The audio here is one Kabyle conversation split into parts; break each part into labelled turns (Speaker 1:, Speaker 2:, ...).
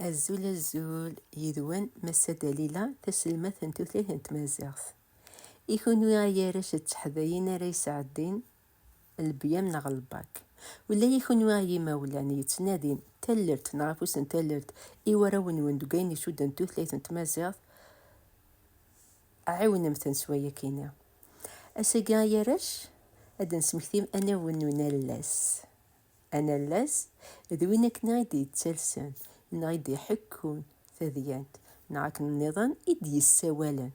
Speaker 1: Azul azul yid-wen Massa Dalila taselmadt n tutlayt n tmaziɣt. I kunwi ay arrac d teḥdayin ara yesɛeddin lbyam neɣ lbak. Ula i kunwi ay imawlan yettnadin tallelt neɣ afus n tallelt i warraw-nwen deg ayen icudden tutlayt n tmaziɣt, ɛiwnemt-ten s wayakini. Ass-agi ay arrac ad d-nesmekti anaw n unallas. Anallas, d win akken i d-yettalsen neɣ i d-iḥekkun tadyant neɣ akken nniḍen i d-yessawalen.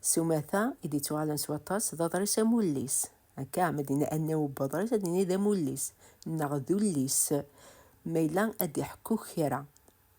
Speaker 1: S umata i d-ittuɣalen s waṭas d aḍris amullis. Akka, ma d-yenna anaw n weḍris, ad nini d amullis neɣ d ullis ma yella ad d-iḥekku kra.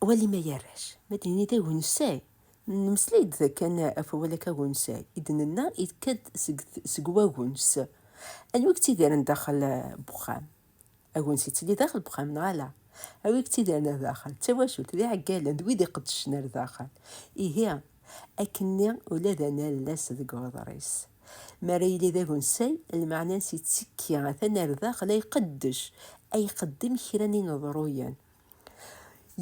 Speaker 1: wali ma yarrac ma d-nini d agensay nemmeslay-d kan ɣef wawal akka agensay i d-nenna yekka-d seg seg wagens anwi yettidiren daxel n uxxam agens yettili daxel n uxxam neɣ ala anwi yettidiren ar daxel d tawacult d iɛeggalen d wid iqeddcen ar daxel ihi akkenni ula d anallas deg uḍris Mi ara yili d agensay, lmeɛna-ines yettekki atan ar daxel ay qeddec, ay qeddem kra n ineḍruyen.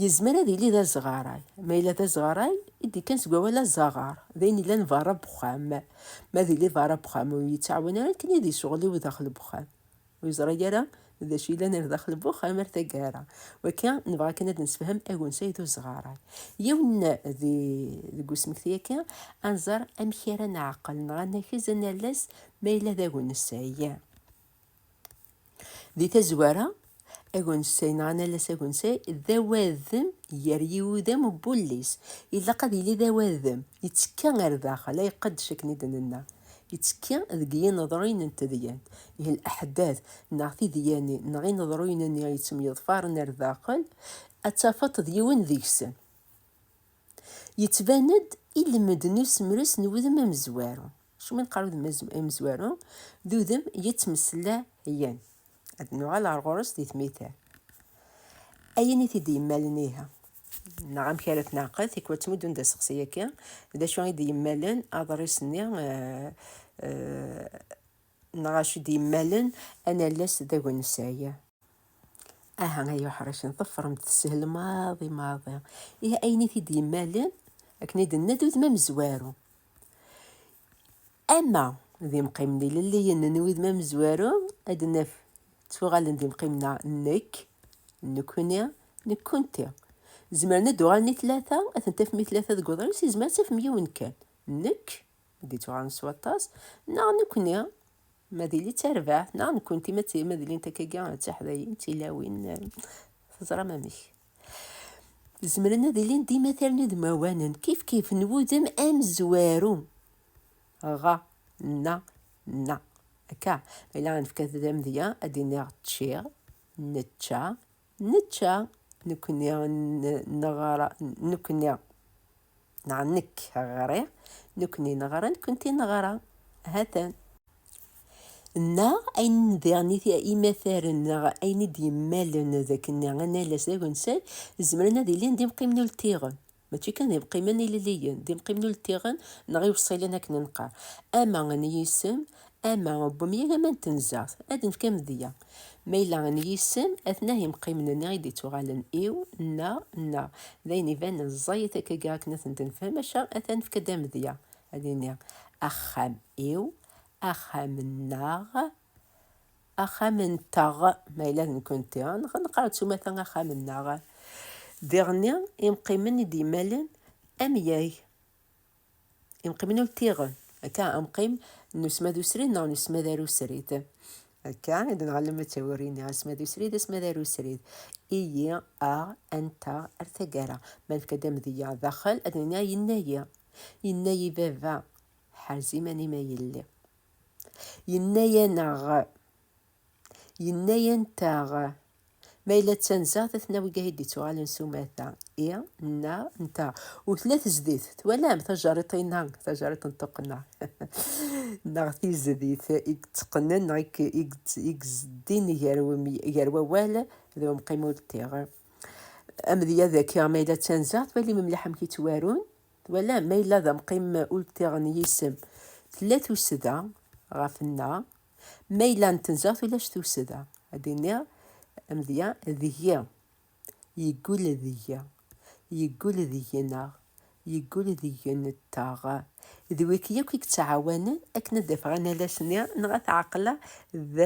Speaker 1: Yezmer ad yili d azɣaray. Ma yella d azɣaray, i d-yekkan seg wawal azaɣar, d ayen yellan berra n wexxam. Ma ad yili berra n wexxam, ur yettɛawan ara akken ad yecɣel i wdaxel n wexxam. ur yeẓra ara d acu yellan ar daxel n uxxam ar taggara. Wakka nebɣa kan ad d-nessefhem agensay d uzeɣaray. Yiwen di, deg usmekti-agi, ad nẓer amek ara neɛqel neɣ ad nakez ad nales ma yella d agensay. Di tazwara, agensay neɣ ad nales agensay d awadem gar yiwudam n wullis. Ilaq ad yili d awadem, yettekka ar daxel, ay qeddec akken i d-nenna. Ittekki deg yineḍruyen n tedyant, ihi leḥdath neɣ tidyanin neɣ ineḍruyen-nni yettemyeḍfaren ar daxel, ad tafeḍ-t d yiwen deg-sen. Yettban-d ilmend n usemres n wudem amezwaru, acimi neqqar udem amezwaru? D udem yettmeslayen. ad nuɣal ar ɣur-s di tmita. Ayen i t-id-yemmalen iha, neɣ amek ara t-neɛqel, tikwa ttmuddun-d aseqsi akka, d acu i d-yemmalen aḍris-nni, eh, eh, neɣ acu d-yemmalen anallas d agensay. Aha ay uḥricen, ḍefrem-d, teshel maḍi maḍi. Ihi ayen i t-id-yemmalen, akken i d-nenna, d udem amezwaru. Ama d imqimen ilelliyen n wudem amezwaru, ad d-naf ttuɣalen d imqimen-a nekk, nekkni, nekkunti. Zemren ad d-uɣalen i tlata, ad ten-tafem i tlata deg uḍris, yezmer ad tafem yiwen kan, nekk, ma d-ittuɣalen s waṭas, neɣ nekkni, ma d ili d tarbaɛt, neɣ nekkunti, ma d ilint akkagi d tiḥdayin, d tilawin, teẓram amek. Zemren ad ilin d imataren udmawanen, kifkif n wudem amezwaru. Ɣa, na, na. Akka, ma yella nefka amedya, ad d-iniɣ ččiɣ, nečča, nečča, nekkni, neɣra, nekkni. Neɣ nekk ɣriɣ, nekkni neɣra, nekkenti neɣra. Hatan. Neɣ ayen diɣen imataren neɣ ayen i d-yemmalen d akken analas d agensal zemren ad ilin d imqimen ultiɣen. Mačči kan d imqimen ilelliyen, d imqimen ultiɣen neɣ iwṣilen akken nqar. Ama n yisem, ama n umyag, ama n tenzeɣt. Ad nefk amedya. Ma yella n yisem, atnah imqimen-nni i d-ittuɣalen iw, na, nna. D ayen ibanen ẓẓayet akkagi akken ad tent-nefhem, maca ad t-nefk-d amedya, ad nini, Axxam iw, axxam-nneɣ, axxam-nteɣ, ma yella d nekkenti, neɣ ad neqqar d tumata axxam-nneɣ. Diɣenni, imqimen i d-yemmalen amyag. Imqimen ur tiɣen, akka amqim n usmad usrid neɣ n usmad arusrid. Akka i d-nɣellem ttawurin-nni, asmad usrid, asmad arusrid. Iyi, aɣ, anta, ar taggara. Ma nefka-d amedya daxel, ad nini yenna-yi. Yenna-yi baba, ḥerz iman-im ay yelli. Yenna-aneɣ. Yenna-yant-aɣ, Ma yella d tanzeɣt ad ten-aweg ay d-ittuɣalen s umata, i, nna, nta, u tella tezdit, twalam, tajerriṭ-inna, tajerriṭ n tuqqna, neɣ tizdit, i yetteqqnen neɣ i yezdin gar wawal d umqim ur d-tiɣ. Amedya daki, ma yella d tanzeɣt, walim mliḥ amek i ttwarun, twalam, ma yella d amqim ur d-tiɣ n yisem, tella tusda ɣef nna, Ma yella n tenzeɣt ulac tussda, ad d-iniɣ amedya deg-i, yeggul deg-i, yeggul deg-ineɣ, yeggul deg-nteɣ. D wiki yakk i yettɛawanen akken ad d-afeɣ analas-nni neɣ ad t-ɛeqleɣ d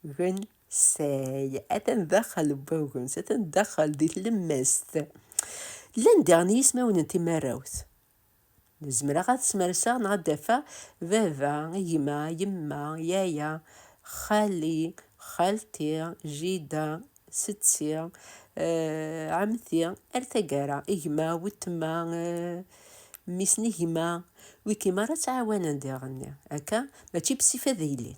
Speaker 1: agensay. Atan daxel n wagens, atan daxel di tlemmast. Llan diɣen yismawen n timarrawt. Zemreɣ ad smerseɣ neɣ ad d-afeɣ baba, gma, yemma, yaya, xali, xalti, jida, setti, ɛemmti, ar taggara, gma, wetma, mmi-s n gma, wigi merra ttɛawanen diɣen akka, mačči bessif ad ilin.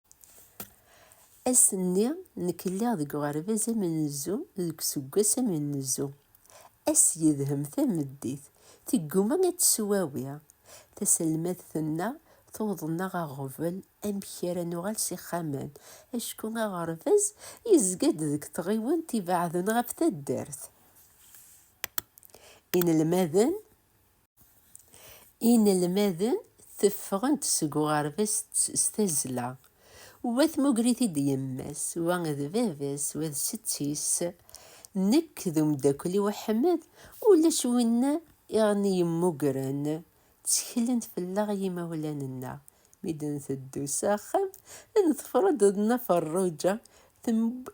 Speaker 1: Ass-nni, nekk lliɣ deg uɣerbaz amenzu deg useggas amenzu. Ass yedhem tameddit, tegguma ad teswawi. Taselmadt tenna, tuweḍ-nneɣ aɣbel amek ara nuɣal s ixxamen, acku aɣerbaz yezga-d deg tɣiwant ibeɛden ɣef taddart. Inelmaden Inelmaden teffɣen-d seg uɣerbaz s tazzla, wa tmuger-it-id yemma-s, wa d baba-s, wa d setti-s. Nekk d umeddakel-iw Aḥmed, ulac win i ɣen-yemmugren. Tteklen fell-aɣ yimawlan-nneɣ. Mi d-nteddu s axxam, neḍfer-d Nna Ferruǧa,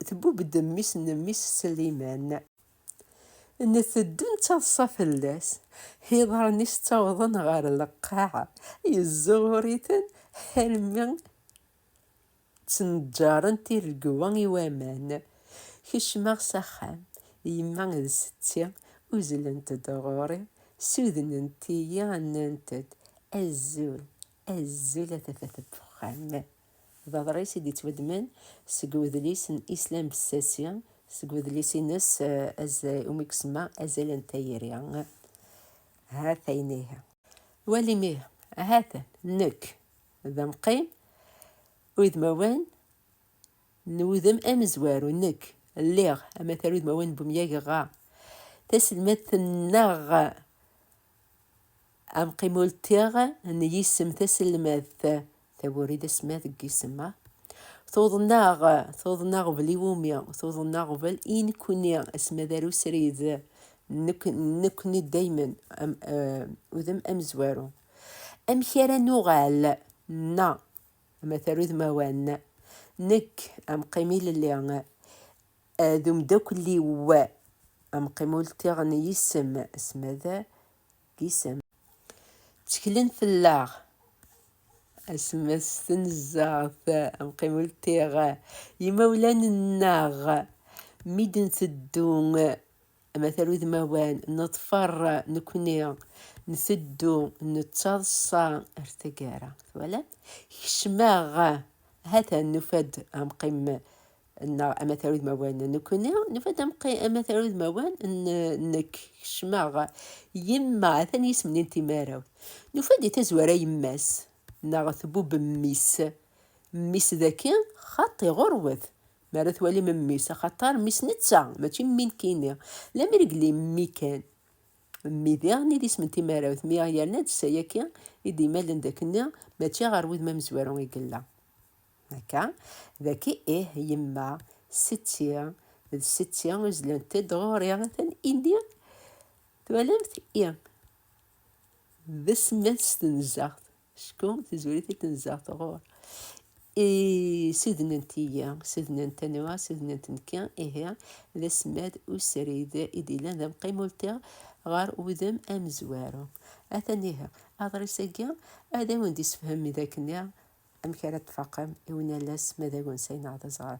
Speaker 1: tbubb-d mmi-s n mmi-s Sliman. Nteddu nettaḍsa fell-as. Iḍarren-is ttawḍen ɣer lqaɛa, yezzuɣur-iten almi ttneǧǧaren tiregwa i waman. Kecmeɣ s axxam, yemma d setti uzzlent-d ɣur-i, ssudnent-iyi, nnant-d, Azul, azul a tafat n uxxam. D aḍris i d-ittwaddmen seg udlis n Islam Bessasi, seg udlis-ines umi isemma Azal n tayri. Ha-t-a inih. Walim ih. Ha-t-an nekk d amqim udmawan n wudem amezwaru. Nekk lliɣ amatar udmawan n umyag ɣa taselmadt-nneɣ Amqim ultiɣ n yisem taselmadt, tawuri d asmad deg yisem-a. Tuḍen-aɣ, tuḍen aɣbel iwumi, tuḍen aɣbel i nekkni, asmad ar usrid, nekkni daymen, udem amezwaru. Amek ara nuɣal, na, amatar udmawan, nekk, amqim ilelli, D umdakel-iw amqim ur ltiɣ n yisem, asma d isem. Tteklen fell-aɣ, asma s tnezzart, amqim ur ltiɣ. Imawlan-nneɣ mi d-nteddu. amatar udmawan neḍfer nekkni nteddu nettaḍsa ar tagara twala kecmeɣ hata nufa-d amqim neɣ amatar udmawan nekkni nufa-d amatar udmawan nekk kecmeɣ yemma atan yisem-nni n timaraw nufa-d i tazwara yemma-s neɣ tbub mmi-s mmi-s daki xaṭi ɣurwet mi ara twali memmi-s, axaṭer mmi-s netta, mačči mmi nekkini, lemmer i yelli mmi kan. Mmi diɣen i d isem n timarawt, mi yerna-d s ayagi i d-yemalen d akkenni, mačči ɣer wudem amezwaru i yella. Akka, dagi ih yemma, setti, d setti uzlent-d ɣur-i, atan ini, twalamt, i d asemma n tstenzaɣt. Acku tizuri-t i tenzeɣ tɣur. I sudnent-iyi, sudnent anwa, sudnent nekki, ihi d asmad usrid i d-yellan d amqimulti ɣer wudem amezwaru. Atan ihi, aḍris-agi ad awen-d-isefhem mi d akken-nniɣ amek ara d-tfaqem i unalas ma d agensay neɣ d azeɣray.